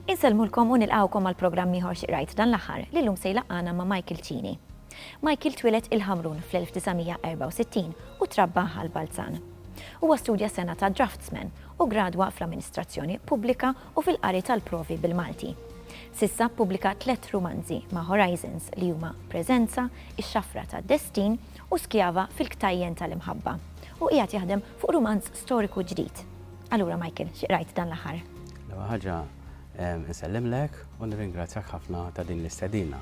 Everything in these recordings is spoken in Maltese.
Insellmulkom u nilqawkom għal programm ieħor xiqrajt dan l-aħħar li llum se jlaqqana ma' Michael Cini. Michael twilet il-Ħamrun fl-1964 u trabba għal Balzan. Huwa studja sena ta' draftsman u gradwa fl-amministrazzjoni pubblika u fil-qari tal-provi bil-Malti. S'issa ppubblika tliet rumanzi ma' Horizons li huma Preżenza, Ix-Xafra tad-Destin u Skjava fil-Ktajjen tal-Imħabba u qiegħed jaħdem fuq rumanz storiku ġdid. Allura Michael, xi qrajt dan l-aħħar? L-ewwel ħaġa nsellimlek u nirringrazzjak ħafna ta' din l-istedina.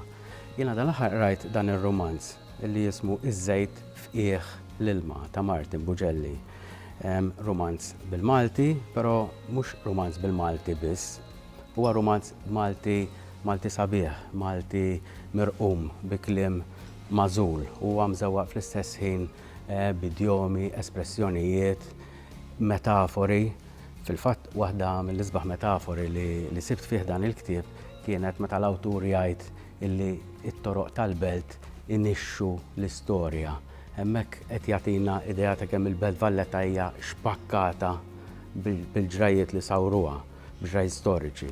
Jiena dan l-aħħar qrajt dan ir-rumanz li jismu Iż-żejt f'qiegħ l-ilma ta' Martin Buġelli. Rumanz bil-Malti, però mhux rumanz bil-Malti biss. Huwa rumanz Malti, Malti sabiħ, Malti mirqum bi kliem magħżul. Huwa mżewwaq fl-istess ħin b'idjomi, espressjonijiet, metafori. Fil-fatt, waħda mill-isbaħ metafori li sibt fih dan il-ktieb kienet meta l-awtur jgħid illi t-toroq tal-Belt inixxu l-istorja. Hemmhekk qed jagħtina idea ta' kemm il-Belt Valletta hija xpakkata bil-ġrajjiet li sawruha, b'ġrajjiet storiċi.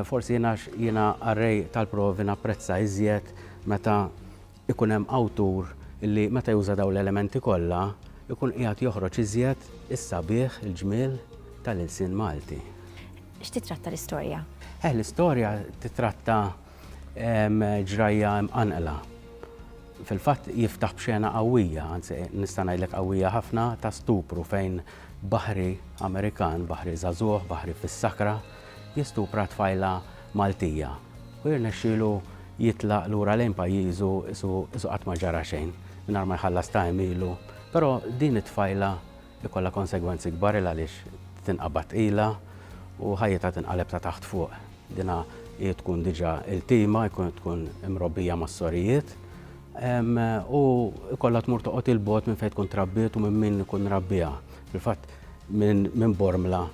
Forsi jiena jiena qarrej tal-provi napprezza iżjed meta ikun hemm awtur li meta juża dawn l-elementi kollha jkun qiegħed joħroġ iżjed is-sabiħ, il-ġmiel tal-ilsien Malti. X'titratta l-istorja? Eh, l-istorja titratta ġrajja mqanqla. Fil-fatt jiftaħ b'xena qawwija, anzi nista' ngħidlek qawwija ħafna ta' stupru fejn baħri Amerikan, baħri żagħżugħ, baħri fis-sakra, jistupra tfajla Maltija u jirnexxilu jitlaq lura lejn pajjiżu qisu qatt ma ġara xejn, mingħajr ma jħallas ta' għemilu. Però din it-tfajla jkollha konsegwenzi kbar 'il għaliex tinqabad tqila u ħajjitha tinqaleb ta' taħt fuq. Dinha hi tkun diġà iltima, jkun tkun imrobbija mas-sorijiet u jkollha tmur toqgħod 'il bogħod minn fejn tkun trabbiet u minn min ikun rabbiha. Fil-fatt minn Bormla.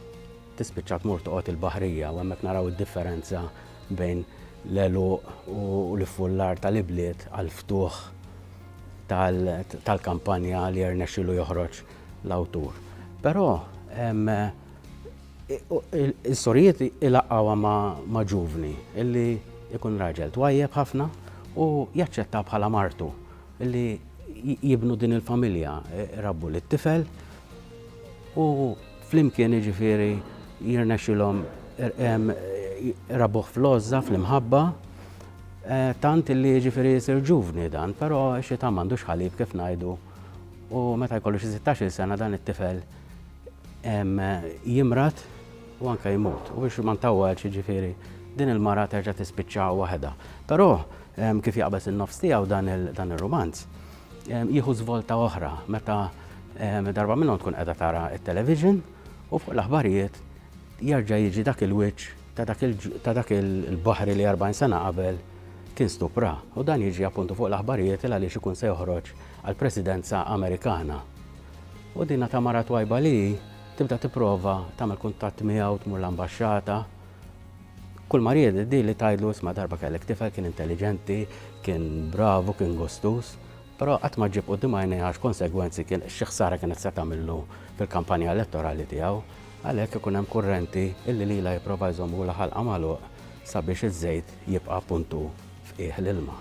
Tispiċċa tmur toqgħod il-Baħrija u hemmhekk naraw id-differenza bejn l-għeluq u l-iffullar tal-ibliet għall-ftuħ tal-kampanja li rnexxielu joħroġ l-awtur. Però l-istorjiet ilaqqgħuha ma' ġuvni li jkun raġel twajjeb ħafna u jaċċettha bħala martu li jibnu din il-familja, irabbu lit-tifel u. Flimkien jiġifieri jirnexxilhom rabuħ fl-għożża fl-imħabba eh, tant li jiġifieri jsir ġuvni dan, però xi ta' m'għandux ħalib kif ngħidu u meta jkollu xi 16 sena dan it-tifel jimrat u anke jmut. U biex ma ntawwal ġifieri din il-mara terġa' tispiċċa waħedha. Però kif jaqbeż in-nofs tiegħu dan ir-romanz, Jieħu żvolta oħra meta darba minnhom tkun qiegħda tara t-television u fuq l-aħbarijiet jerġa' jiġi dak il-wiċċ ta' dak il-baħri li 40 sena qabel kien stupra u dan jiġi appuntu fuq l-aħbarijiet il għaliex ikun se joħroġ għall-Presidenza Amerikana. U dina ta' mara twajba li tibda tipprova tagħmel kuntatt miegħu tmur l-ambaxxata Kull ma ried hi li tgħidlu isma' darba kellek tifel kien intelliġenti, kien bravu, kien gustuż, però qatt ma ġġib quddiem għajnejha x'konsegwenzi kien, xi ħsara kienet se tagħmillu fil-kampanja elettorali tiegħu. Għalhekk ikun hemm kurrenti li lilha jipprova jżomm hu l-ħalqa magħluq sabiex iż-żejt jibqa' punt hu. f'qiegħ l-ilma.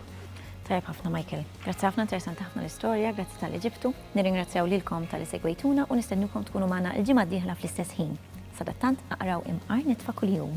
Tajjeb ħafna Michael. Grazzi ħafna interessanti ħafna l-istorja, grazzi tal-li ġibtu. Nirringrazzjaw lilkom tal-li segwejtuna u nistennukom tkunu magħna l-ġimgħa d-dieħla fl-istess ħin. Sadattant aqraw imqar nitfa' kuljum.